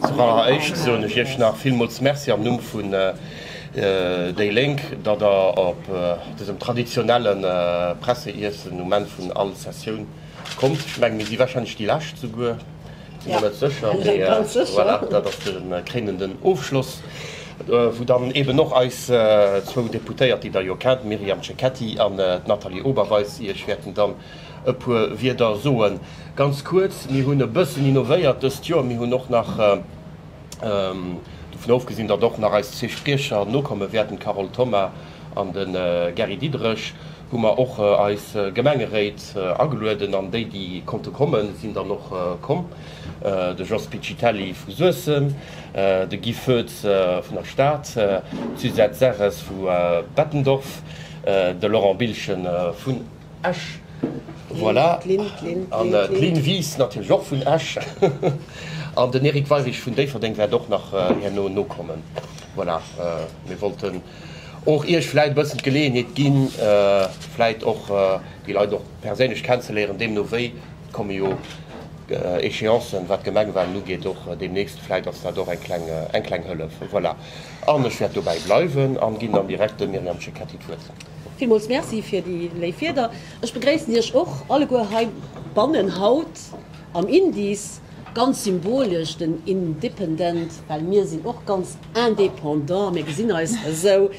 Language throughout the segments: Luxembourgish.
Als alleréischt soen ech Iech nach villmools Merci am Numm vun déi Lénk, datt Der op dësem traditionelle Presseiessen um Enn vun all Sessioun kommt. Ech mengen, mir si warscheinlech déi Lescht, souguer, sinn mer net sécher, mee voilà, dat ass de kréinenden Ofschloss, wou dann eeben och eis zwou Deputéiert, déi Der jo kennt, d'Myriam Cecchetti an d'Nathalie Oberweis, Iech wäerten dann e puer Wierder soen. Ganz kuerz, Mir hunn e bëssen innovéiert dëst Joer. Mir hunn och nach, dovun ofgesinn, datt och nach eis zwee Spriecher nokomme wäerten, d'Carole Thoma an de Gary Diderich, hu mer och eis Gemengeréit agelueden an déi, déi konnte kommen, sinn dann och komm, de Jos Piccitelli vu Suessem, de Guy Foetz vun der Stad, d'Suzette Serres vu Bettendorf, de Laurent Bilchen vun. Esch. Voilà, an d'Lynn Wies natierlech och vun Esch. An den Eric Weirich vun Déifferdeng wäert och nach herno nokommen. Voilà, mir wollten och Iech vläit e bëssen d'Geleeënheet ginn, vläit och déi Leit och perséinlech kennenzeléieren. Deemno wéi komme jo Echéancen, wat d'Gemengewalen ugeet, och deemnächst. Vläit ass dat och eng kleng Hëllef. Voilà, an ech wäert dobäi bleiwen a ginn dann direkt dem Myriam Cecchetti d'Wuert. Villmools Merci fir déi léif Wieder. Ech begréissen Iech och alleguer heibannen haut am Indies. Ganz symbolesch den Independent, well mir sinn och ganz indépendant, mir gesinn eis esou.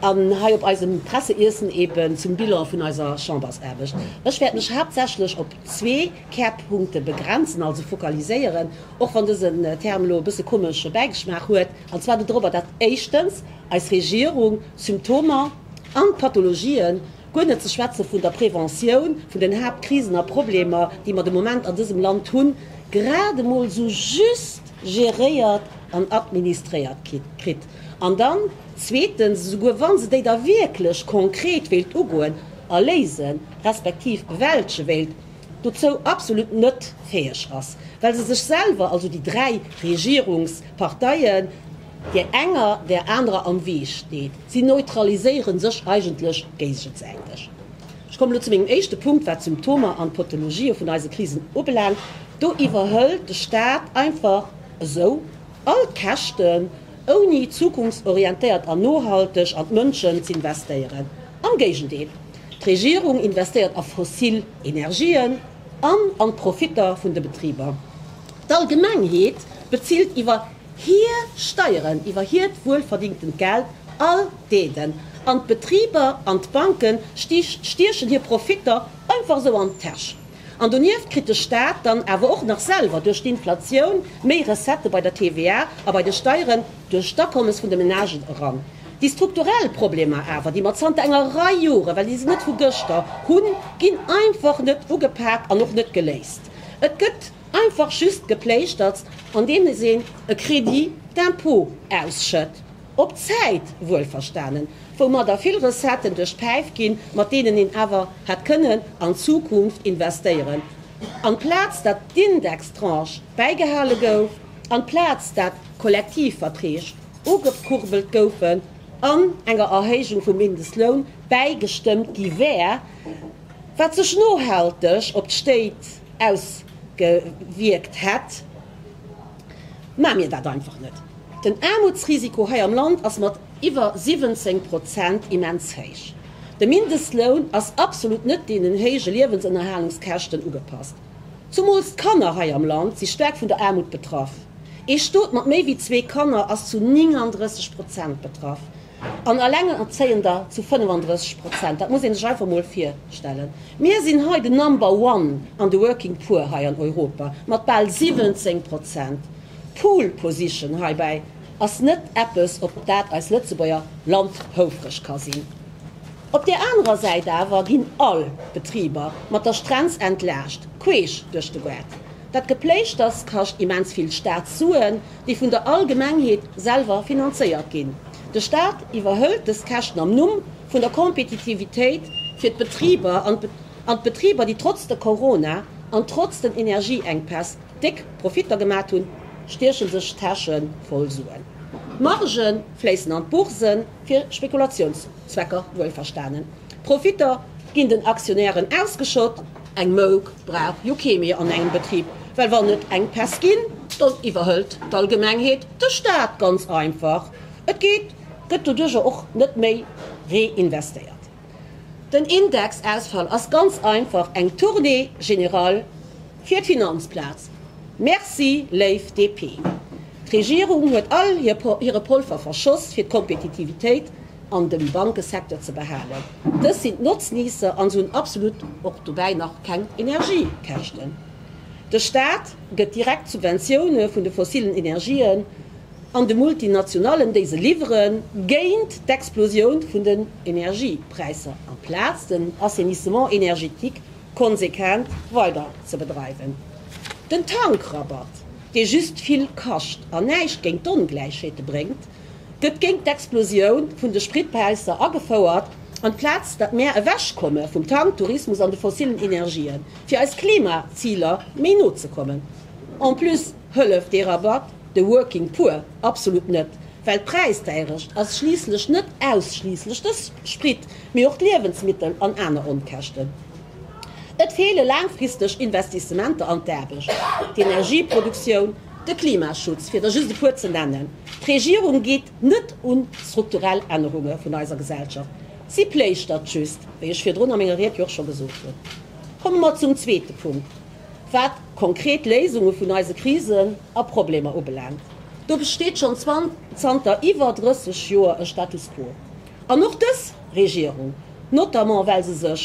An hei op eisem Presseiessen eben zum Bilan vun eiser Chambersaarbecht. Ech wäert mech haaptsächlech op zwee Kärpunkte begrenzen, also fokaliséieren, och wann dësen Term elo e bësse komesche Bäigeschmaach huet, an zwar doropper, dat éischtens, eis Regierung, Symptomer an Pathologien, guer net ze schwätzen vun der Preventioun vun den Haaptkrisen a Problemer, déi mer de Moment an dësem Land hunn, grad emol esou just geréiert an administréiert kritt. An dann, zweetens, esouguer wa se déi da wierklech konkret wéilt ugoen a léisen, respektiv bewältge wéilt, dozou absolut net fäeg ass, well se sech selwer, also déi dräi Regierungsparteien, Där enger, där anerer am Wee steet. Si neutraliséiere sech eigentlech géigesäiteg. Ech kommen elo zu mengem éischte Punkt, wat d'Symptomer an d'Potologië vun eise Krisen ubelaangt. Do iwwerhëlt de Staat einfach esou all d'Käschten, ouni zukunftsorientéiert an nohalteg an d'Mënschen z'investéieren. Am Géigendeel, d'Regierung investéiert a fossil Energien an an d'Profitter vun de Betriber. D'Allgemengheet bezilt iwwer. hir Steieren iwwer hiert wuelverdingtent Geld all deeden an d'Betriber an d'Banke stiechen hir Profitter einfach esou an d'Täsch. An donieft kritt de Staat dann awer och nach selwer duerch d'Inflatioun méi Recettë bei der TVA a bei de Steieren duerch d'Akommes vun de Menagen eran. Déi strukturell Problemer awer, déi mer zanter enger Rei Joren, well déi sinn net vu gëschter, hunn, ginn einfach net ugepak an och net geléist. Et gëtt. Einfach just gepléischtertst andeems een e Crédit d'impôt ausschëtt, op Zäit wuelverstanen, woumadder vill Recetten duerch d'Päif ginn, mat deenen een awer hätt kënnen an d'Zukunft investéieren, amplaz dat d'Indextranche bäigehale gouf, amplaz dat Kollektivverträg ugekurbelt goufen an enger Erhéijung vum Mindestloun bäigestëmmt gi wär, wat sech nohalteg op d'Stéit, ausgewierkt hätt, maache mir dat einfach net. Den Aarmutsrisiko hei am Land ass mat iwwer 17 Prozent immens héich. De Mindestloun ass absolut net deenen héije Liewensënnerhalungskäschten ugepasst. Zumools d'Kanner hei am Land si staark vun der Aarmut betraff. Ee Stot mat méi wéi zwee Kanner ass zu 39 Prozent betraff. an Alengerzéiender zu 35 Prozent. Dat muss ee sech einfach emol virstellen. Mir sinn hei de Number one an de Working Poor hei an Europa mat bal 17 Prozent. D'Pole Position heibäi ass net eppes, op dat eis Lëtzebuerger Land houfreg ka sinn. Op där anerer Säit awer ginn all Betriber mat der Strenz entlaascht, queesch duerch de Gaart. Dat Gepléischters kascht immens vill Staatssuen. déi vun der Allgemengheet selwer finanzéiert ginn. De Staat iwwerhëlt dës Käschten am Numm vun der Kompetitivitéit fir d'Betriber an d'Betriber, déi trotz de Corona an trotz den Energieenkpäss déck Profitter gemat hunn, stieche sech d'Täsche voll Suen. D'Marge fléissen an d'Bourse fir Spekulatiounssucht. Zwecker wuelverstanen, Profitter ginn den Aktionären ausgeschott, eng Mouk brauch jo kee méi an engem Betrib, well wann et eng Pest ginn, dann iwwerhëlt d'Allgemengheet de Staat, ganz einfach. Et geet, gëtt doduercher och net méi reinvestéiert. Den Indexausfall ass ganz einfach eng Tournée générale. Fir d'Finanzplaz. Merci, léif DP. D'Regierung huet all hire Polver verschoss, fir d'Kompetitivitéit an dem Bankesecteur ze behalen. Dës sinn d'Notzniesser an se hunn absolut och dobäi nach keng Energiekäschten. De Staat gëtt direkt Subventioune vun de fossillen Energien an de Multinationallen, déi se liwweren, géint d'Explosioun vun den Energiepräisser, amplaz den Assainissement énergétique konsequent weider ze bedreiwen. Den Tankrabatt, dee just vill kascht an näischt géint d'Ongläichheete bréngt, gëtt géint d'Explosioun vun de Spritpräisser agefouert, amplaz datt mär ewechkomme vum Tanktourismus an de fossillen Energien, fir eis Klimaziler méi no ze kommen. En plus. Hëlleft dee Rabatt de Working Poor? Absolut net, well d'Präisdäierecht ass schliisslech net ausschliisslech de Sprit, mee och d'Liewensmittel an aner Onkäschten. Et feele laangfristeg Investissementer an d'Aarbecht, d'Energieproduktioun, de Klimaschutz, fir der just e puer ze nennen. D'Regierung geet net un d'strukturell Ännerunge vun eiser Gesellschaft, si pléischtert just, wéi ech virdrun a menger Ried jo och scho gesot hunn. Komme mer zum zweete Punkt, Wat konkret Léisunge vun eise Krisen a Problemer ubelaangt, do besteet schonn zanter iwwer 30 Joer e Status quo. An och dës Regierung, notamment well se sech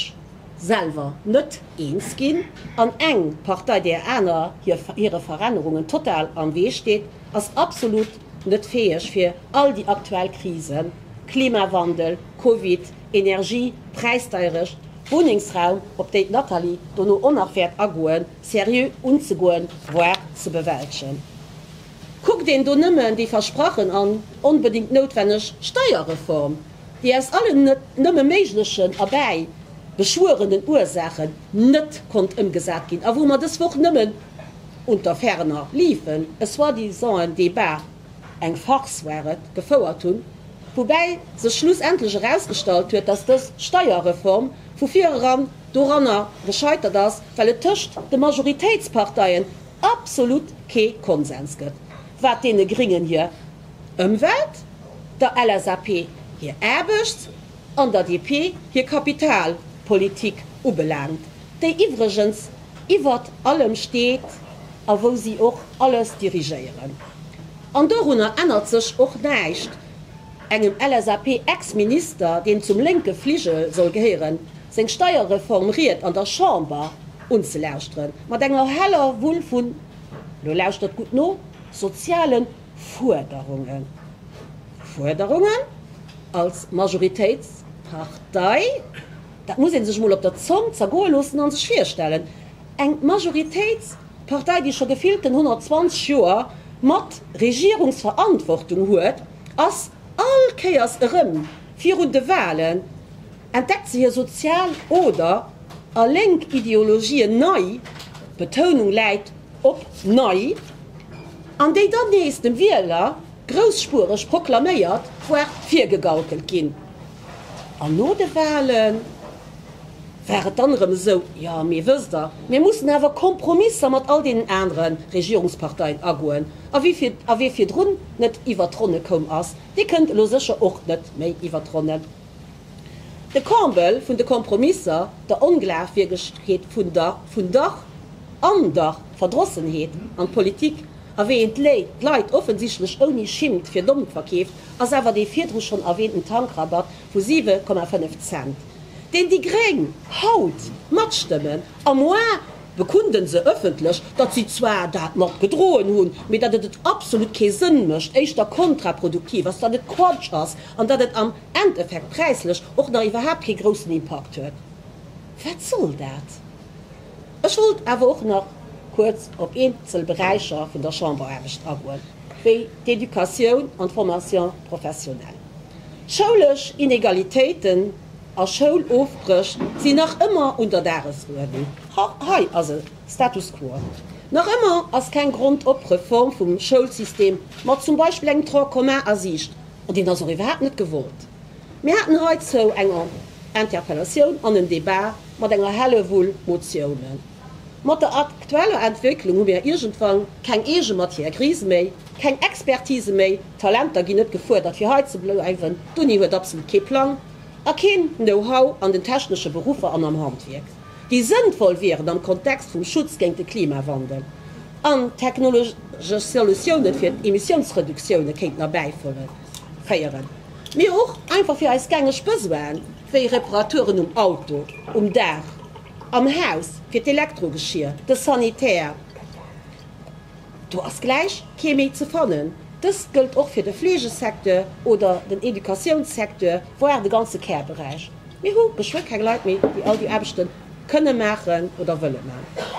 selwer net eens ginn an eng Partei där aner hire Verännerungen total am Wee steet, ass absolut net fäeg fir all déi aktuell Krisen, Klimawandel, Covid, Energie, Präisdeierecht, Wunnengsraum, op déi d'Nathalie dono och nach wäert agoen, seriö unzegoen, voire ze bewältegen. Kuckt een do nëmmen déi versprachen an onbedéngt noutwenneg Steierreform, déi aus allen net nëmme méiglechen erbäi beschwuerenen Ursaachen net konnt ëmgesat ginn a wou mer dës Woch nëmmen unter ferner liefen e soi-disanten Débat Eng Farce war et, gefouert hunn, woubäi sech schlussendlech erausgestallt huet, datt dës Steierreform vu vir eran doranner gescheitert ass, well et tëscht de Majoritéitsparteien absolut kee Konsens gëtt, wat deene Gringen hir Ëmwelt, der LSAP hir Aarbechts an der DP hir Kapitalpolitik ubelaangt, déi iwwregens iwwert allem steet a wou si och alles dirigéieren. An dorunner ännert sech och näischt engem LSAP-Ex-Minister, deem zum lénke Fligel soll gehéieren, seng Steierreform-Ried an der Chamber unzelauschtere mat enger heller Wull vun, lo lauschtert gutt no, soziale Fuerderungen. Fuerderungen als Majoritéitspartei? Dat muss ee sech emol op der Zong zergoe loossen a sech virstellen, eng Majoritéitspartei, déi scho gefillten 120 Joer mat Regierungsverantwortung huet, ass all Kéiers erëm virun de Wahlen, entdeckt se hir sozial oder a lénk Ideologien nei, d'Betounung läit op nei, an déi dann nees dem Wieler grousspuereg proklaméiert, voire virgegaukelt ginn. An no de Wahlen war et dann erëm esou, jo mee wësst der, mir mussen awer Kompromisser mat all deenen anere Regierungsparteien agoen. A wie virdrun net iwwert d'Ronne koum ass, dee kënnt elo sécher och net méi iwwert d'Ronne. De Comble vun de Kompromisser, der Onglaafwiergegkeet vun der vun der an der Verdrossenheet an d'Politik, a wéi een d'Leit offensichtlech ouni Schimmt fir domm verkeeft, ass awer dee virdru schonn erwähnten Tankrabatt vu 7,5 Cent, deen déi gréng haut matstëmmen, a moi bekunden se ëffentlech, datt si zwar dat mat gedroen hunn, mee datt et et absolut kee Sënn mécht, éischter kontraproduktiv ass, datt et Quatsch ass an datt et am Endeffekt präislech och nach iwwerhaapt kee groussen Impakt huet. Wat soll dat? Ech wollt awer och nach kuerz op eenzel Beräicher vun der Chamberaarbecht agoen, wéi d'Educatioun an d'Formation professionnelle. Schoulesch Inegalitéiten a Schoulofbréch sinn nach ëmmer un der Dagesuerdnung. Hei ass e Status quo. Nach ëmmer ass keng Grondop-Reform vum Schoulsystem mat zum Beispill engem Tronc commun a Siicht, an deen ass och iwwerhaapt net gewollt. Mir haten heizou eng Interpellatioun an en Debat. Mat enger Hellewull Motiounen. Mat der aktueller Entwécklung hu mir iergendwann keng eege Matière grise méi, keng Expertise méi, d'Talenter ginn net gefuerdert fir hei ze bleiwen, d'Uni huet absolut kee Plang a keen Know-how an den technesche Beruffer an am Handwierk, déi sënnvoll wieren am Kontext vum Schutz géint de Klimawandel an technologesch Solutiounen fir Emissiounsreduktioune kéinten erbäiféieren, mee och einfach fir eis gängeg Besoinen. wéi Reparaturen um Auto, um Daach, am Haus, fir d'Elektrogeschier, de Sanitär, do ass gläich kee méi ze fannen. Dëst gëllt och fir de Fleegesecteur oder den Educatiounssecteur, voire de ganze Care-Beräich. Mir hu geschwë keng Leit méi, déi all déi Aarbechte kënne maachen oder wëlle maachen.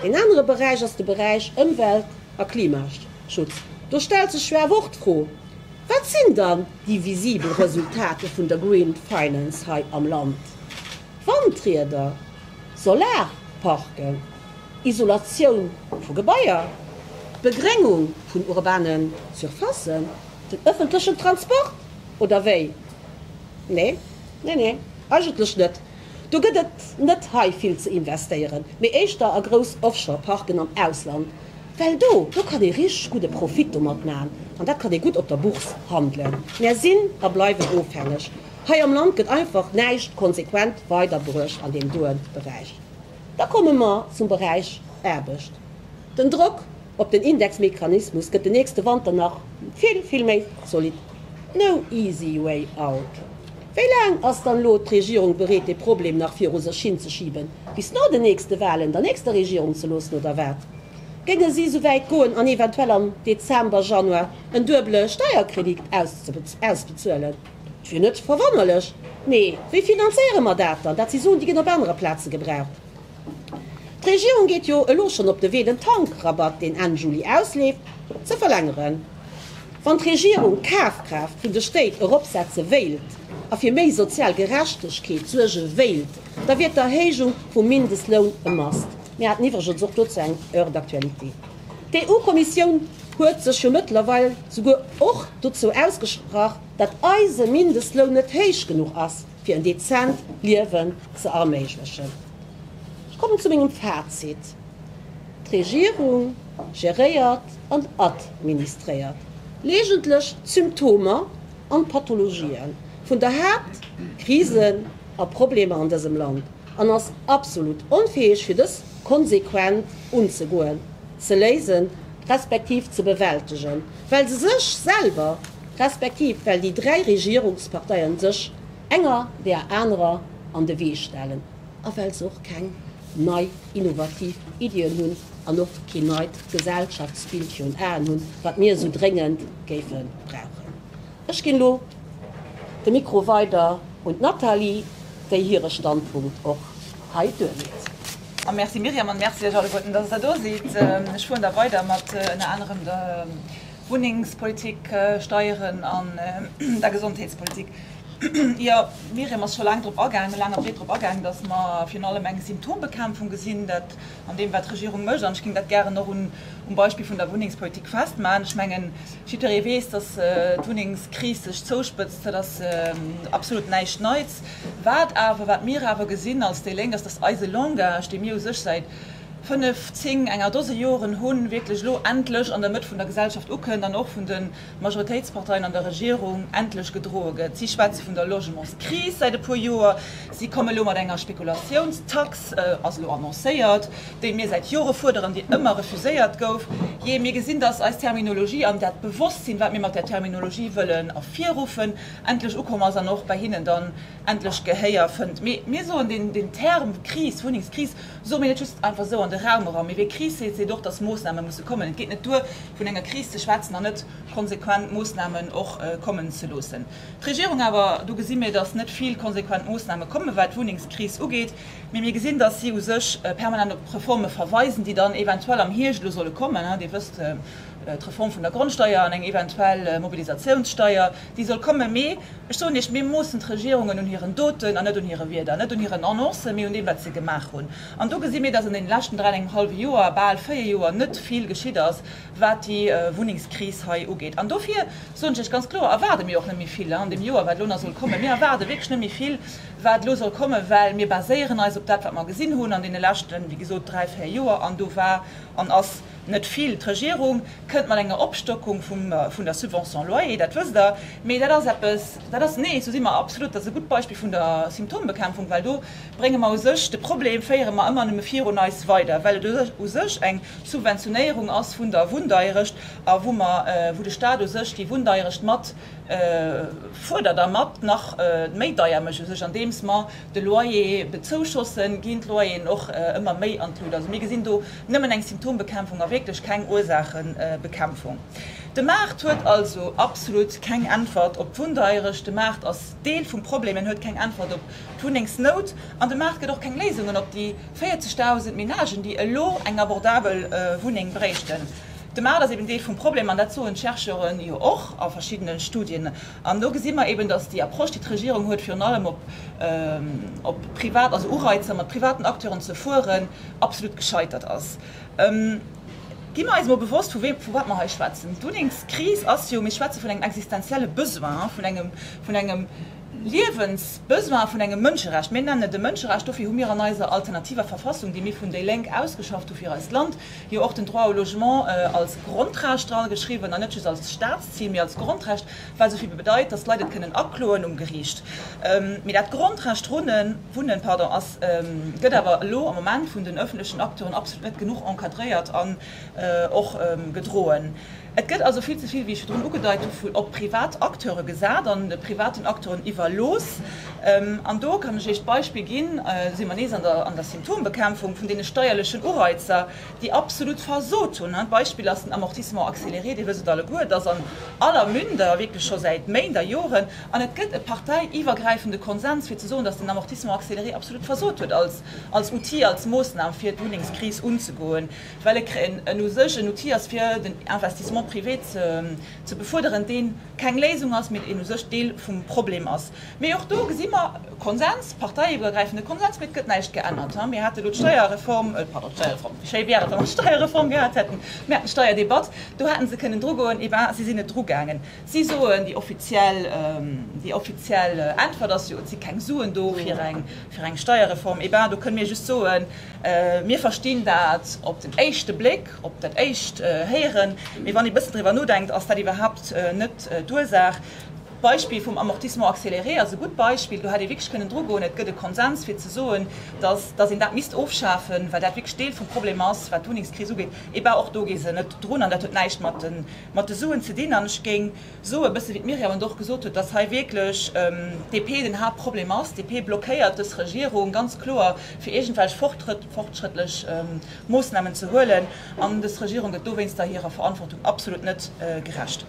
Een anere Beräich ass de Beräich Ëmwelt a Klimaschutz. Do stellt sech jo awer och d'Fro, Wat sinn dann Déi visibel Resultater vun der Green Finance hei am Land, Wandrieder, Solarparken, Isolatioun vu Gebaier, Begréngung vun urbanen Surfacen, den ëffentlechen Transport, oder wéi? Nee, nee, nee, eigentlech net. Do gëtt et net hei vill ze investéieren, mee éischter a grouss Offshore Parken am Ausland, well do do kann ee richteg gudde Profit domat maachen an dat kann ee gutt op der Bourse handelen. Mär sinn a bleiwen ofhängeg. Hei am Land gëtt einfach näischt konsequent weiderbruecht an deem doe Beräich. Da komme mer zum Beräich Aarbecht. Den Drock op den Indexmechanismus gëtt den nächste Wanter nach vill, vill méi zolidd. No easy way out. Wéi laang ass dann elo d'Regierung bereet, dee Problem nach viru sech hin ze schiben? Bis no den nächste Wahlen der nächster Regierung ze loossen, oder wat? Géinge si sou wäit goen an eventuell am Dezember, Januar en duebele Steierkredit ausbezuelen? Et wier net verwonnerlech. Mee wéi finanzéiere mer dat dann? Dat si Suen, déi ginn op anere Plaze gebraucht. D'Regierung geet jo elo schonn op de Wee, den Tankrabatt, deen Enn Juli ausleeft, ze verlängeren. Wann d'Regierung d'Kafkraaft vun de Stéit eropsetze wéilt a fir méi sozial Gerechtegkeet suerge wéilt, da wier d'Erhéijung vum Mindestloun e must. Mir haten iwwregens och dozou eng Heure d'actualité. D'EU-Kommissioun huet sech jo mëttlerweil souguer och dozou ausgesprach, datt eise Mindestloun net héich genuch ass, fir en dezent Liewen ze erméiglechen. Ech kommen zu mengem Fazit, D'Regierung geréiert an administréiert legentlech d'Symptomer an d'Pathologien vun der Haaptkrise a Problemer an dësem Land an ass absolut onfäeg fir dës konsequent unzegoen, ze léisen, respektiv ze bewältegen, well se sech selwer, respektiv well déi dräi Regierungsparteien sech enger där anerer an de Wee stellen a well se och keng nei innovativ Iddien hunn an och keen neit Gesellschaftsbild virun Aen hunn, wat mir esou dréngend géife brauchen. Ech ginn elo de Mikro weider un d'Nathalie, déi hire Standpunkt och hei duerleet. Merci Myriam an Merci iech alleguerten, dass der do sidd. Ech fueren da weider mat ënner anerem der Wunnengspolitik, Steieren an der Gesondheetspolitik. Jo, d'Myriam ass scho laang drop agaangen, laang a breet drop agaangen, dass mer virun allem eng Symptombekämpfung gesinn, dat, an deem, wat d'Regierung mécht. An ech géing dat gären och um Beispill vun der Wunnengspolitik festmaachen. Ech mengen, jiddweree weess, dass d'Wunnengskris sech zouspëtzt. Dat ass absolut näischt Neits. Wat awer, wat mir awer gesinn als déi Lénk, ass, dass eise Langage, dee mir u sech säit fënnf, zéng, enger Dose Joren hunn, wierklech elo endlech an der Mëtt vun der Gesellschaft ukënnt an och vun de Majoritéitsparteien an der Regierung endlech gedroe gëtt. Si schwätze vun der Logementskris säit e puer Joer. Si komme lo mat enger Spekulatiouns-Tax, ass elo annoncéiert, déi mir säit Jore fuerderen, déi ëmmer refuséiert gouf. Jee, mir gesinn, datt eis Terminologie an dat Bewosstsinn, wat mir mat där Terminologie wëllen ervirruffen, endlech ukomm ass an och bei hinnen dann endlech Gehéier fënnt. Mee mir soen, deen Term Kris, Wunnengskris, Soe mir net just einfach esou an de Raum eran. Mee wee Kris seet, seet och, dass Moossname musse kommen. Et geet net duer, vun enger Kris ze schwätzen an net konsequent Moossnamen och kommen ze loossen. D'Regierung awer, do gesi mir, dass net vill konsequent Moossname kommen, wat d'Wunnengskris ugeet. Mee mir gesinn, dass si u sech permanent op Reforme verweisen, déi dann eventuell am Hierscht elo solle kommen. Dir wësst, d'Reform vun der Grondsteuer an eng eventuell Mobilisatiounssteuer, Déi soll kommen, mee ech soen Iech, mir moossen d'Regierungen un hiren Doten an net un hire Wierder, net un hiren Annoncen, mee un deem, wat se gemaach hunn. An do gesi mir, dass an deene leschten dräi an engem hallwe Joer, bal véier Joer, net vill geschitt ass, wat déi Wunnengskris hei ugeet. An dofir soen ech lech ganz kloer, erwaarde mir och net méi vill an deem Joer, wat elo nach soll kommen. Mir erwaarde wierklech net méi vill, wat elo soll kommen, well mir baséieren eis op dat, wat mer gesinn hunn an deene leschten, wéi gesot, dräi, véier Joer. An do war an ass. Net vill. D'Regierung kënnt mat enger Opstockung vun der Subvention loyer, dat wësst Der, mee dat ass eppes, dat ass, nee, esou si mer absolut, dat ass e gutt Beispill vun der Symptombekämpfung, well do brénge mer u sech de Problem, féiere mer ëmmer nëmme virun eis weider, well et u sech eng Subventionéierung ass vun der Wunndeierecht a wou mer, wou de Stat u sech déi Wunndeierecht mat fuerdert a mat nach méi deier mécht u sech, andeems mer, de Loyer bezouschossen, ginn d'Loyeren och ëmmer méi an d'Lut. Also mir gesinn do nëmmen eng Symptombekämpfung a wierklech keng Ursaachebekämpfung. De Maart huet also absolut keng Äntwert op d'Wunndeierecht. De Maart ass Deel vum Problem, en huet keng Äntwert op d'Wunnengsnout an de Maart gëtt och keng Léisungen op déi 40.000 Menagen, déi elo eng abordabel Wunneng bréichten. De Maart ass eben Deel vum Problem an dat soen d'Chercheuren jo och a verschiddene Studien. An do gesi mer eben, dass déi Approche, déi d'Regierung huet, virun allem op privat, also Ureizer mat privaten Acteuren ze fueren, absolut gescheitert ass. Gi mer eis emol bewosst, vu wat mer hei schwätzen. D'Wunnengskris ass jo, mir schwätze vun engem existenzielle Besoin, vun engem Liewensbesoin, vun engem Mënscherecht. Mir nennen et e Mënscherecht. Dofir hu mir an eiser alternativer Verfassung, déi mir vun déi Lénk ausgeschafft hu fir eist Land, Jo, och den Droit au logement als Grondrecht drageschriwwen, an net just als Staatszil, mee als Grondrecht, wat esou vill bedeit, datt d'Leit et kënnen akloen um Geriicht. Mee dat Grondrecht runnen, wunnen, pardon, ass, gëtt awer elo am Moment vun den öffentlechen Acteuren absolut net genuch encadréiert an och gedroen. Et gëtt also vill ze vill, wéi ech virdrun ugedeit hu, vu op privat Acteure gesat an de privaten Acteuren iwwerlooss. An do kann ech Iech d'Beispill ginn, do si mer nees an der Symptombekämpfung, vun deene steierlechen Ureizer, déi absolut versot hunn. D'Beispill ass den Amortissement accéléré, Dir wësst et alleguer, et ass an aller Münder, wierklech scho säit Méint a Joren. An et gëtt e parteiiwwergräifende Konsens, fir ze soen, datt den Amortissement accéléré absolut versot huet als Outil, als Moossnam, fir d'Wunnengskris unzegoen. well e en u sech en Outil ass fir den Investissement privé ze befuerderen, dee keng Léisung ass, mee deen u sech Deel vum Problem ass. Mee och do gesi mer Konsens, parteiiwwergräifende Konsens, mee et gëtt näischt geännert. Mir hate elo d'Steierreform, pardon, d'Steierreform, wéi schéi wär et, wa mer d'Steierreform gehat hätten, mir haten d'Steierdebatt, do hätte se kënnen drugoen, eh ben, si sinn net drugaangen. Si soen, déi offiziell, déi offiziell Äntwert ass jo, et si keng Suen do fir eng Steierreform. Eh ben, do kënne mir just soen, Mir verstinn dat op den éischte Bléck, op dat éischt Héieren, mee wann ee bëssen driwwer nodenkt, ass dat iwwerhaapt net d'Ursaach. D'Beispill vum Amortissement accéléré ass e gutt Beispill. Do hätt ee wierklech kënnen drugoen. Et gëtt e Konsens fir ze soen, dass dass een dat misst ofschafen, well dat wierklech Deel vum Problem ass, wat d'Wunnengskris ugeet. Et war och do, ginn se net drun an dat huet näischt mat de Suen ze dinn. An ech géing. Soe bësse wéi d'Myriam et och gesot huet, datt hei wierklech d'DP den Haaptproblem ass. D'DP blockéiert dës Regierung ganz kloer fir iergendwelch fortschrëttlech Moossnamen ze huelen an dës Regierung gëtt dowéinster hirer Verantwortung absolut net gerecht.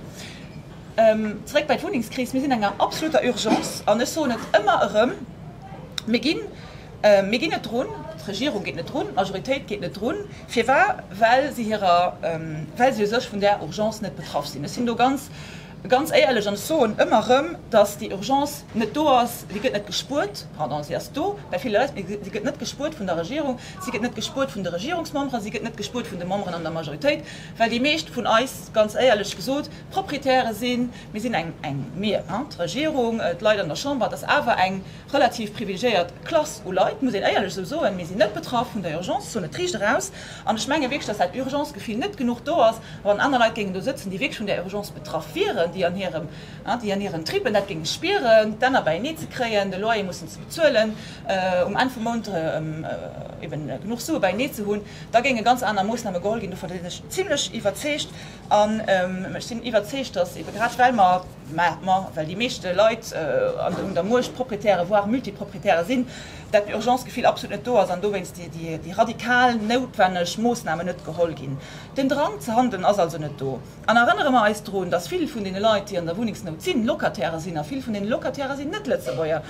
Zeréck bei d'Wunnengskris, mir sinn an enger absoluter Urgence an ech soen et ëmmer erëm, mir ginn, Mir ginn net drun, d'Regierung geet net drun, d'Majoritéit geet net drun. Firwar? Well si hirer, well si u sech vun där Urgence net betraff sinn. Ech sinn do ganz, ganz éierlech an ech soen ëmmer erëm, dass déi Urgence net do ass. Si gëtt net gespuert, pardon, si ass do bei ville Leit, mä si gëtt net gespuert vun der Regierung, si gëtt net gespuert vun de Regierungsmemberen, si gëtt net gespuert vun de Memberen an der Majoritéit, well déi meescht vun eis, ganz éierlech gesot, Proprietäre sinn. Mir sinn eng, eng, mir, hein, d'Regierung, d'Leit an der Chamber, et ass awer eng, relativ privilegiéiert Klass u Leit, muss een éierlech esou soen, mir sinn net betraff vun der Urgence, soen et riicht eraus. An ech menge wierklech, dass dat Urgence-Gefill net genuch do ass, wann aner Leit géingen do sëtzen, déi wierklech vun där Urgence betraff wieren, déi an hirem, déi an hiren Trippen dat géinge spieren, d'Enner beienee ze kréien, de Loyer mussen ze bezuelen, um Enn vum Mount eben genuch Sue beienee ze hunn, da géinge ganz aner Moossname geholl ginn. Dovun sinn ech zimlech iwwerzeegt. An ech sinn iwwerzeegt, dass ebe grad well mer, Mä well déi meeschte Leit un der Muecht Proprietäre, voire Multiproprietäre sinn, dat Urgence-Gefill absolut net do ass an dowéinst déi radikal noutwenneg Moossnamen net geholl ginn. Den Drang ze handeln ass also net do. An erënnere mer eis drun, dass vill vun deene Leit, déi an der Wunnengsnout sinn, Locatairë sinn. A vill vun deene Locatairë sinn Net-Lëtzebuerger.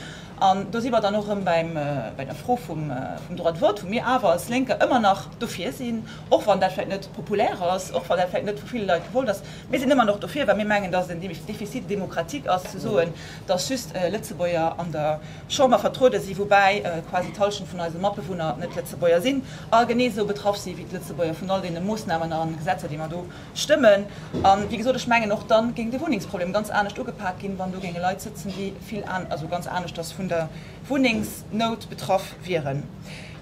An do si mer dann och erëm bei der Fro vum Droit de vote, wou mir awer als Lénker ëmmer nach dofir sinn, och wann dat vläicht net populär ass, och wann dat vläicht net vu ville Leit gewollt ass, Mir sinn ëmmer nach dofir, well mir mengen, dass et en Déficit démocratique ass ze soen, dass just Lëtzebuerger an der Chamber vertruede sinn, woubäi quasi d'Hallschent vun eise Matbewunner net Lëtzebuerger sinn a genee esou betraff si wéi d'Lëtzebuerger vun all deene Moossnamen a Gesetzer, déi mer do stëmmen. A wéi gesot, ech mengen, och da géing de Wunnengsproblem ganz anescht ugepak ginn, wann do géinge Leit sëtzen, déi vill, also ganz aneschters vun der Wunnengsnout betraff wieren.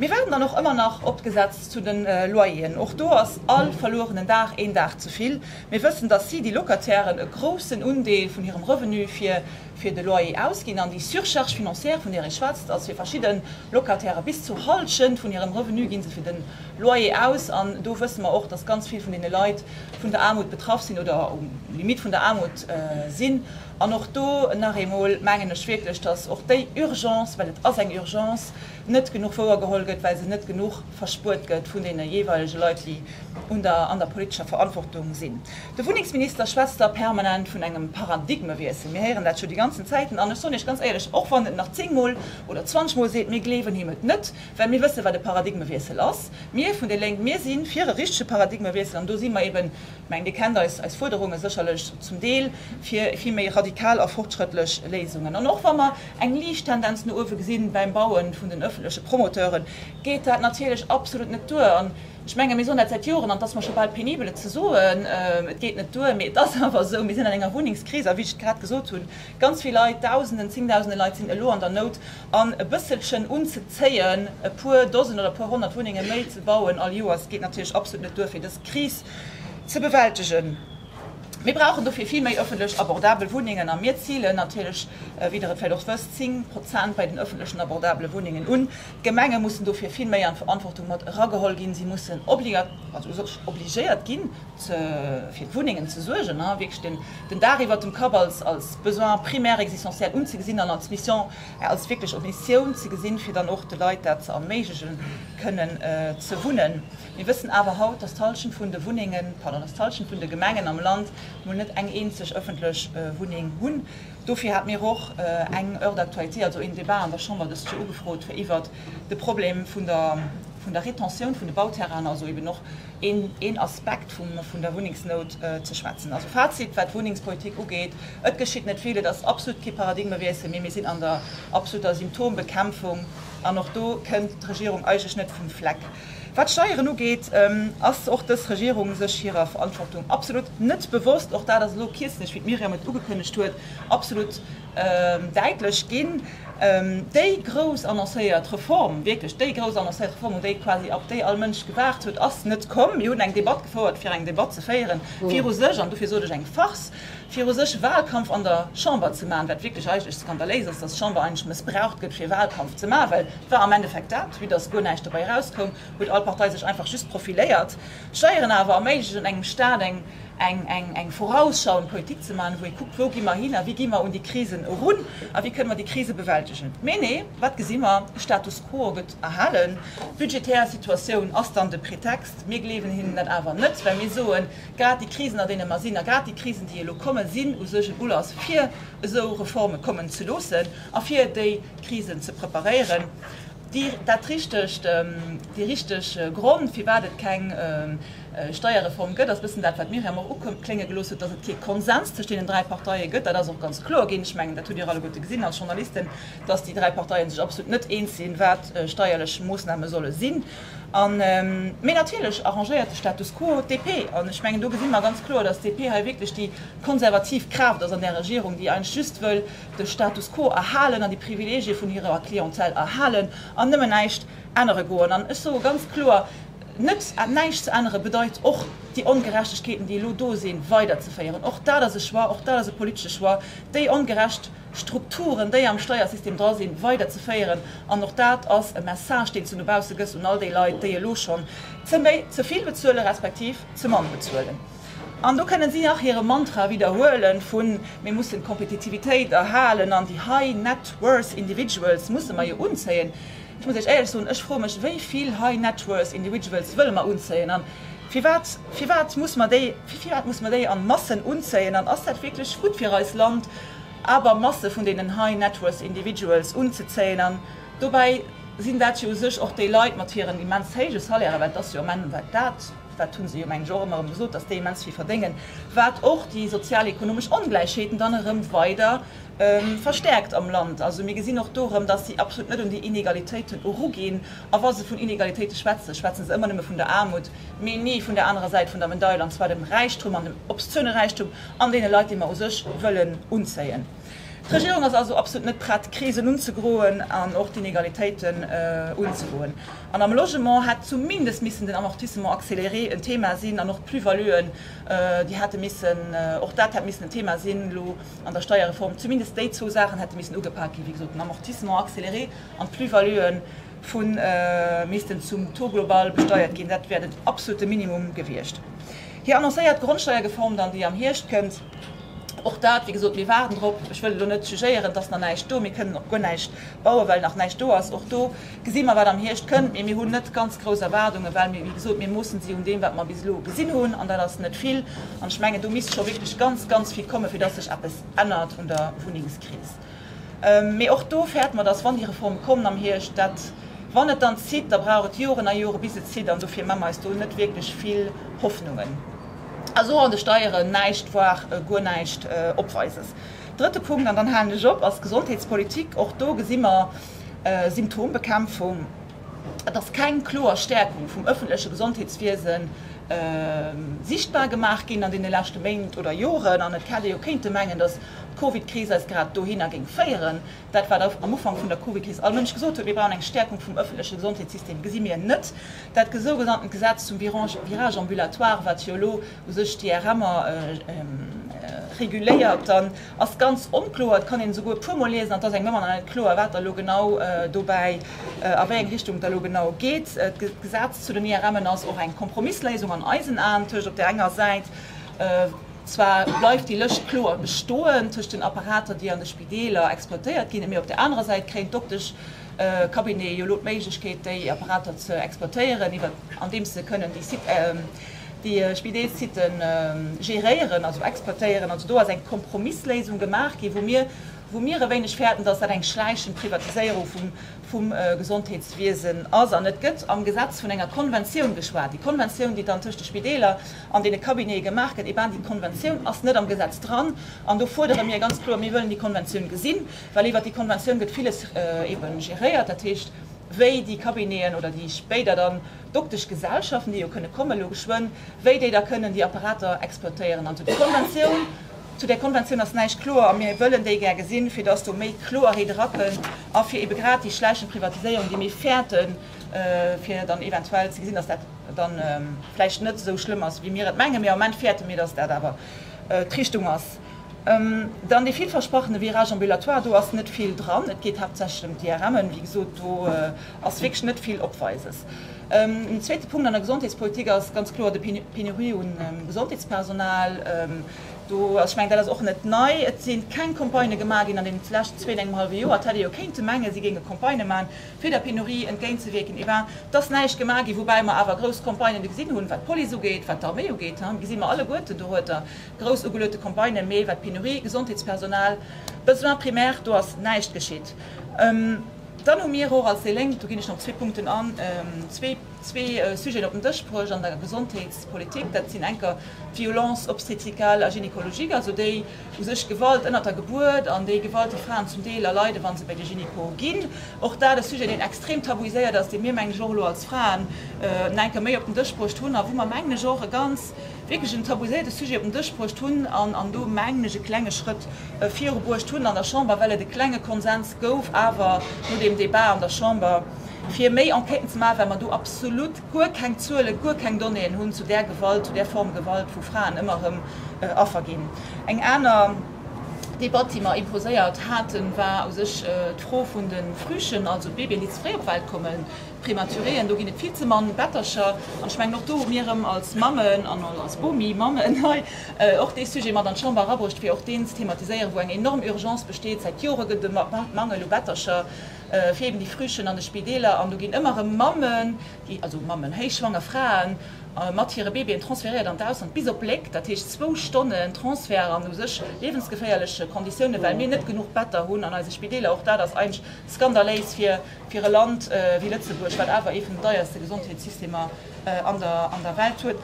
Mir waarden dann och ëmmer nach op d'Gesetz zu de Loyeren. Och do ass all verluerenen Dag een Dag ze vill. Mir wëssen, dass si, déi Locatairen, e groussen Undeel vun hirem Revenu fir de Loyer ausginn. An déi Surcharge financière, vun där ee schwätzt, ass fir verschidde Locataire bis zu Hallschent vun hirem Revenu gi se fir de Loyer aus. An do wësse mer och, dass ganz vill vun deene Leit vun der Aarmut betraff sinn oder um Limitt vun der Aarmut sinn. An och do nach eemol mengen ech wierklech, dass och déi Urgence, well et ass eng Urgence, net genuch wouergeholl gëtt, well se net genuch verspuert gëtt vun deene jeeweilege Leit, déi an der politescher Verantwortung sinn. De Wunnengsminister schwätzt da permanent vun engem Paradigmewiessel. Mir héieren dat scho déi ganzen Zäiten. An ech soen Iech ganz éierlech, och wann en et nach zéngmol oder zwanzegmol seet, mir gleewen him et net, well mir wëssen, wat e Paradigmewiessel ass. Mir vun déi Lénk, mir si fir e richtege Paradigmewiessel, an do si mer eben Mengen, Dir kennt eis Fuerderunge sécherlech zum Deel fir vill méi radikal a fortschrëttlech Léisungen. An och wa mer eng liicht Tendenz no uewe gesinn beim Baue vun den öffentleche Promoteuren, geet dat natierlech absolut net duer. An ech menge mir soen dat säit Joren, an et ass mer scho bal penibel et ze soen, Et geet net duer, mee et ass awer esou, mir sinn an enger Wunnengskris. A wéi ech et grad gesot hunn, ganz vill Leit, Dausenden, Zéngdausende Leit sinn elo an der Nout. An e bësselchen unzezéien, e puer Dosen oder e puer Honnert Wunnenge méi ze bauen all Joers, geet natierlech absolut net duer, fir dës Kris ze bewältegen. Mir brauchen dofir vill méi ëffentlech abordabel Wunnengen a mir zilen natierlech, wéi Der et vläicht och wësst, 10 Prozent bei den ëffentlechen abordabele Wunnengen un. D'Gemenge mussen dofir vill méi an d'Verantwortung mat erageholl ginn. Si mussen obligéiert ginn, fir d'Wunnengen ze suergen a wierklech den Daach iwwert dem Kapp als Besoin primaire existentiel unzegesinn an als Mission, als wierklech Missioun ze gesinn, fir dann och de Leit dat ze erméiglechen, kënnen ze wunnen. Mir wëssen awer haut, dass d'Hallschent vun de Wunnengen, pardon, dass d'Hallschent vun de Gemengen am Land mol net eng eenzeg ëffentlech Wunneng hunn. Dofir hat mir och eng Heure d'actualité, also een Débat an der Chamber dëst Joer ugefrot, fir iwwert de Problem vun der Retentioun vun de Bauterrainen, also eben och een Aspekt vun der Wunnengsnout, ze schwätzen. Also Fazit, wat d'Wunnengspolitik ugeet, Et geschitt net vill. Et ass absolut kee Paradigmewiessel, mee mir sinn an der absoluter Symptombekämpfung an och do kënnt d'Regierung eigentlech net vum Fleck. Wat d'Steieren ugeet, ass och dës Regierung sech hirer Verantwortung absolut net bewosst. Och dat ass elo kierzlech, wéi d'Myriam et ugekënnegt huet, absolut däitlech ginn. Déi grouss annoncéiert Reform, wierklech déi grouss annoncéiert Reform, un déi quasi ab déi all Mënsch gewaart huet, ass net komm. Mir hunn eng Debatt gefouert, fir eng Debatt ze féieren, fir u sech, an dofir sot ech eng Farce, fir u sech Wahlkampf an der Chamber ze maachen, wat wierklech eigentlech skandaléis ass, dass d'Chamber eigentlech mëssbraucht gëtt, fir Wahlkampf ze maachen, well 't war am Endeffekt dat, vue dass guer näischt dobäi erauskoum, huet all Partei sech einfach just profiléiert. Steieren awer erméiglechen engem Staat eng eng eng vorausschauend Politik ze maachen, wou ee kuckt, wou gi mer hin a wéi gi mer un déi Krisen erun a wéi kënne mer déi Krise bewältegen. Mee nee, wat gesi mer? De Status quo gëtt erhalen. D'budgetär Situatioun ass dann de Pretext. Mir gleewen hinnen dat awer net, well mir soen, grad déi Krisen an deene mer sinn a grad déi Krisen, déi elo kommen, sinn u sech en Ulass fir esou Reforme kommen ze loossen a fir déi, Krisen ze preparéieren. Déi richteg Gronn, firwat et keng Steierreform gëtt, ass e bëssen dat, wat d'Myriam och uklénge gelooss huet, datt et kee Konsens tëscht deenen dräi Parteie gëtt. Dat ass och ganz kloer ginn. Ech mengen, dat hutt Dir alleguerte gesinn als Journalisten, datt déi dräi Parteie sech absolut net eens sinn, wat steierlech Moossname solle sinn. Mee natierlech arrangéiert de Status quo d'DP. An ech mengen, do gesi mer ganz kloer, datt d'DP hei wierklech déi konservativ Kraaft ass an där Regierung, déi eigentlech just wëll, de Status quo erhalen an déi Privilegie vun hirer Clientèle erhalen an nëmmen näischt ännere goen. An ech soe ganz kloer, net näischt ze ännere bedeit och, déi Ongerechtegkeeten, déi elo do sinn, weiderzeféieren. Och dat ass e Choix, och dat ass e politesche Choix, déi ongerecht Strukturen, déi am Steiersystem dra sinn, weiderzeféieren. An och dat ass e Message, deen s de no bausse gëss un all déi Leit, déi elo schonn ze méi, ze vill bezuelen, respektiv ze mann bezuelen. An do kënnen si nach hire Mantra widderhuelen vun, Mir mussen d'Kompetitivitéit erhalen an déi high net worth individuals musse mer jo unzéien. Ech muss Iech éierlech soen, ech froe mech, wéi vill high net worth individuals wëlle mer unzéien an firwat? Firwat muss mer déi, firwat muss mer déi an Massen unzéien an ass dat wierklech gutt fir eist Land, awer Masse vun deenen high net worth individuals unzezéien? An dobäi sinn dat jo u sech och déi Leit mat hiren immens héije Salairen, well et ass jo am Enn dat. dat hu se jo mengen ech och ëmmer erëm gesot, datt déi immens vill verdéngen, wat och déi sozial-ekonomesch Ongläichheeten dann erëm weider verstäerkt am Land. Also mir gesinn och do erëm, datt si absolut net un déi Inegalitéiten eruginn. A wa se vun Inegalitéite schwätzen, schwätze se ëmmer nëmme vun der Aarmut, mee ni vun der anerer Säit vun der Medail, an zwar dem Räichtum, an dem obszöne Räichtum, an deene Leit, déi mer u sech wëllen unzéien. D'Regierung ass also absolut net prett, d'Krisen unzegroen an och d'Inegalitéiten unzegoen. An am Logement hätt zumindest missen den Amortissement accéléré en Thema sinn an och d'Plus-valuen, déi hätte missen, och dat hätt missen en Thema sinn elo an der Steierreform. Zumindest déi zwou Saachen hätte missen ugepak ginn. Wéi gesot, den Amortissement accéléré an d'Plus-valuen vu missten zum Taux global besteiert ginn. Dat wär den absolute Minimum gewiescht. Hir annoncéiert Grondsteiergeform dann, déi am Hierscht kënnt, och dat, wéi gesot, mir waarden drop. Ech wëll elo net suggéieren, et ass nach näischt do, mir kënnen och guer näischt bauen, well nach näischt do ass. Och do Gesi mer, wat am Hierscht kënnt. Mee mir hunn net ganz grouss Erwaardungen, well mir, wéi gesot, mir moossen se jo un deem, wat mer bis elo gesinn hunn, an dat ass net vill. An ech mengen, do misst scho wierklech ganz, ganz vill kommen, fir dass sech eppes ännert un der Wunnengskris. Mee och do fäert mer, dass, wann déi Reform kommen am Hierscht, dat, wann et dann zitt, da brauch et Joren a Joren, bis et zitt. An dofir mache mer eis do net wierklech vill Hoffnungen. A so an de Steieren näischt, voir guer näischt opweises. Drëtte Punkt, an dann halen ech op, ass d'Gesondheetspolitik. Och do gesi mer, Symptombekämpfung, et ass keng kloer Stäerkung vum ëffentleche Gesondheetswiese sichtbar gemaach ginn an deene leschte Méint oder Joren. An et hätt ee jo kéinte mengen, datt d'Covidkris eis grad dohinner géing féieren. Dat, wat am Ufank vun der Covidkris all Mënsch gesot huet, mir brauchen eng Stäerkung vum ëffentleche Gesondheetssystem, gesi mir net. Dat sougenanntent Gesetz zum Virage ambulatoire, wat jo elo u sech d'IRMer reguléiert, dann Ass ganz onkloer, et kann een esouguer e puermol liesen an et ass engem ëmmer nach net kloer wat da lo genau dobäi, a wéi eng Richtung da lo genau geet. D'Gesetz zu den IRMen ass och eng Kompromissléisung an eisen Aen tëscht op där enger Säit, zwar bleift déi Lëscht kloer bestoen tëscht den Apparater déi an de Spideeler exploitéiert ginn, mee op där anerer Säit kréien d'Dokteschcabinete jo lo d'Méiglechkeet déi Apparater ze exploitéieren iwwert andeems se kënnen déi Sites déi Spideelssitten géréieren, also exploitéieren, also do ass eng Kompromissléisung gemaach ginn, wou mir, wou mir e wéineg fäerten, dass dat eng schläichend Privatiséierung vum, vum Gesondheetswiesen ass. An et gëtt am Gesetz vun enger Konventioun geschwat. Déi Konventioun, déi dann tëscht de Spideeler an deene Cabinete gemaach gëtt, eh ben, déi Konventioun ass net am Gesetz dran. An do fuerdere mir ganz kloer, mir wëllen déi Konventioun gesinn, well iwwert déi Konventioun gëtt villes eben géréiert, dat heescht, wéi déi Cabineten oder déi spéider dann, Dokteschgesellschaften, déi jo kënne kommen, elo geschwënn, wéi déi da kënnen déi Apparater exploitéieren. An zu der Konventioun, zu där Konventioun ass näischt kloer. A mir wëllen déi gär gesinn, fir datt do méi Kloerheet erakënn a fir ebe grad déi schleichend Privatiséierung, déi mir fäerten, fir dann eventuell ze gesinn, datt dat dann vläicht net esou schlëmm ass, wéi mir et mengen, mee am Moment fäerte mir, datt dat awer d'Richtung ass. Dann dee villversprochene Virage ambulatoire, do ass net vill dran. Et geet haaptsächlech ëm d'IRMen, wéi gesot, do ass wierklech net vill Opweises. En zweete Punkt an der Gesondheetspolitik ass ganz kloer de Penurie u Gesondheetspersonal. Do ass, ech mengen, dat ass och net nei, et si keng Campagnë gemaach ginn an deenen leschten zwee an engem hallwe Joer. Et hätt ee jo kéinte mengen, si géinge Campagnë maachen, fir der Penurie entgéintzewierken. Et ass näischt gemaach ginn, woubäi mer awer grouss Campagnë gesinn hunn, wat d'Police ugeet, wat d'Arméi ugeet. Hei gesi mer alleguerten, do huet Der grouss ugeluete Campagnë, mee wat d'Penurie Gesondheetspersonal, Besoin primaire, do ass näischt geschitt. Dann hu mir och als déi Lénk, do ginn ech nach op zwee Punkten an, zwee Sujeten op den Dësch bruecht an der Gesondheetspolitik. Dat sinn enker d'Violences obstétricales a gynécologiques, also déi u sech Gewalt ënnert der Gebuert an déi Gewalt, déi Fraen zum Deel erleiden, wa se bei de Gynéco ginn. Och dat e Sujet, deen extrem tabuiséiert ass, dee mir, mengen ech, och elo als Fraen enker méi op den Dësch bruecht hunn a wou mer, mengen ech, och e ganz, wierklech en tabuiséierte Sujet op den Dësch bruecht hunn an do, mengen ech, e klenge Schrëtt viru bruecht hunn an der Chamber, well et e klenge Konsens gouf awer no deem Débat an der Chamber, fir méi Enquêten ze maachen, well mer do absolut guer keng Zuelen, guer keng Donnéeën hunn zu där Gewalt, zu där Form Gewalt, wou Fraen ëmmer erëm Affer ginn. Eng aner Debatt, déi mer imposéiert haten, war u sech d'Fro vun de Frühchen, also Babyen, déi ze fréi op d'Welt kommen. Prématuréen, do ginn et vill ze mann Bettercher. An ech mengen, och do hu mir erëm als Mammen an als Bomi mammen hei och dee Sujet mat an d'Chamber erabruecht, fir och deen ze thematiséieren, wou eng enorm Urgence besteet. Säit Jore gëtt et e Mangel u Bettercher fir eben déi Frühchen an de Spideeler. An do ginn ëmmer erëm Mammen, déi, also Mammen, héichschwanger Fraen mat hire Babyen transféréiert an d'Ausland, bis op Léck, dat heescht zwou Stonnen Transfert an u sech liewensgeféierleche Konditiounen, well mir net genuch Better hunn an eise Spideeler. Och dat ass eigentlech skandaléis fir Fir e Land wéi Lëtzebuerg, wat awer ee vun den deierste Gesondheetssystemer an der Welt huet.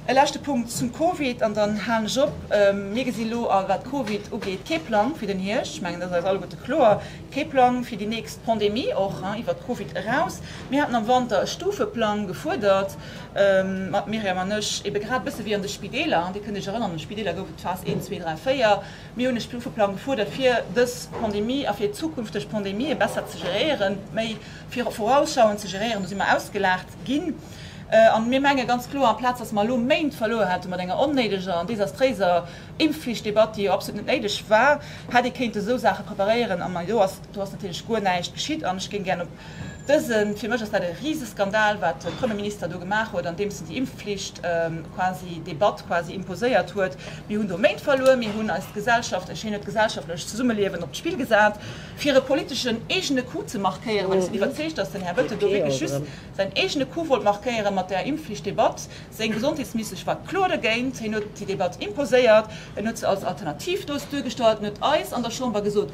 E leschte Punkt zum Covid an dann halen ech op. Mir gesi lo, wat Covid ugeet, kee Plang fir den Hierscht. Ech mengen, dat ass eis alleguerte kloer. Kee Plang fir déi nächst Pandemie, och iwwert Covid eraus. Mir haten am Wanter e Stufeplang gefuerdert, d'Myriam an ech, ebe grad e bësse wéi an de Spideeler. Dir kënnt Iech erënneren, an de Spideeler gouf et d'Phas 1, 2, 3, 4. Mir hunn e Stufeplang gefuerdert, fir dës Pandemie a fir zukünfteg Pandemië besser ze geréieren, méi vorausschauend ze geréieren. Do si mer ausgelaacht ginn. A mir menge ganz kloer, amplaz datt mer elo Méint verluer hätte mat enger onnéideger an desastréiser Impfflichtdebatt, déi jo absolut net néideg war, hätt ee kéinte sou Saache preparéieren. A do ass natierlech guer näischt geschitt. An ech géing gären op Dësen, fir mech ass dat e Riseskandal, wat de Premier Minister do gemaach huet, andeems en déi Impfpflicht quasi de Batt quasi imposéiert huet. Mir hunn do Méint verluer, mir hunn eis Gesellschaft, ech, hien huet d'gesellschaftlech Zesummeliewen op d'Spill gesat, fir e politeschen eegene Coup ze markéieren, well ech sinn iwwerzeegt, datt den Här Bettel do wierklech just säin eegene Coup wollt markéieren mat där Impfpflicht de Batt. Seng Gesondheetsministesch war kloer dogéint, hien huet déi de Batt imposéiert, en huet se als Alternativ do duergestallt, en huet eis an der Chamber gesot,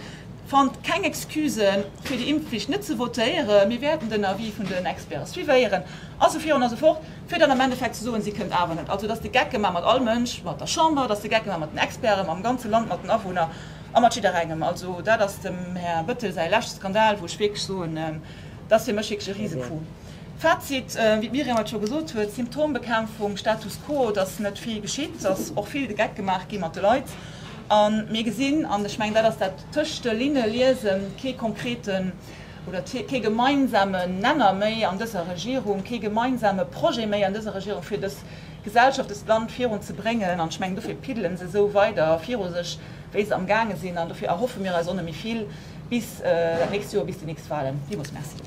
Fannt keng Excuse fir déi Impfflicht net ze votéieren. Mir wäerten den Avis vun den Experten suivéieren a sou virun a sou fort, fir dann am Endeffekt ze soen, si kënnt awer net. Also, dass de Gecke maache mat all Mënsch, mat der Chamber, dass de Gecke maache mat den Experten, mam ganze Land, mat den Awunner a mat jidderengem. Also, dat ass dem Här Bettel säi leschte Skandal, wou ech wierklech soen, dat ass fir mech wierklech e Riesecoup. Fazit, wéi d'Myriam et scho gesot huet, Symptombekämpfung, Status quo, dass net vill geschitt, dass och vill de Geck gemaach gi mat de Leit. A mir gesinn, an ech mengen, dat ass dat tëscht de Linne liesen, kee konkreten oder kee gemeinsame Nenner méi an dëser Regierung, kee gemeinsame Projet méi an dëser Regierung, fir dës Gesellschaft, dëst Land virun ze bréngen. An ech mengen, dofir piddele se esou weider viru sech, wéi se amgaange sinn. An dofir erhoffe mir eis och net méi vill bis dat nächst Joer, bis déi nächst Wahlen. Villmools merci.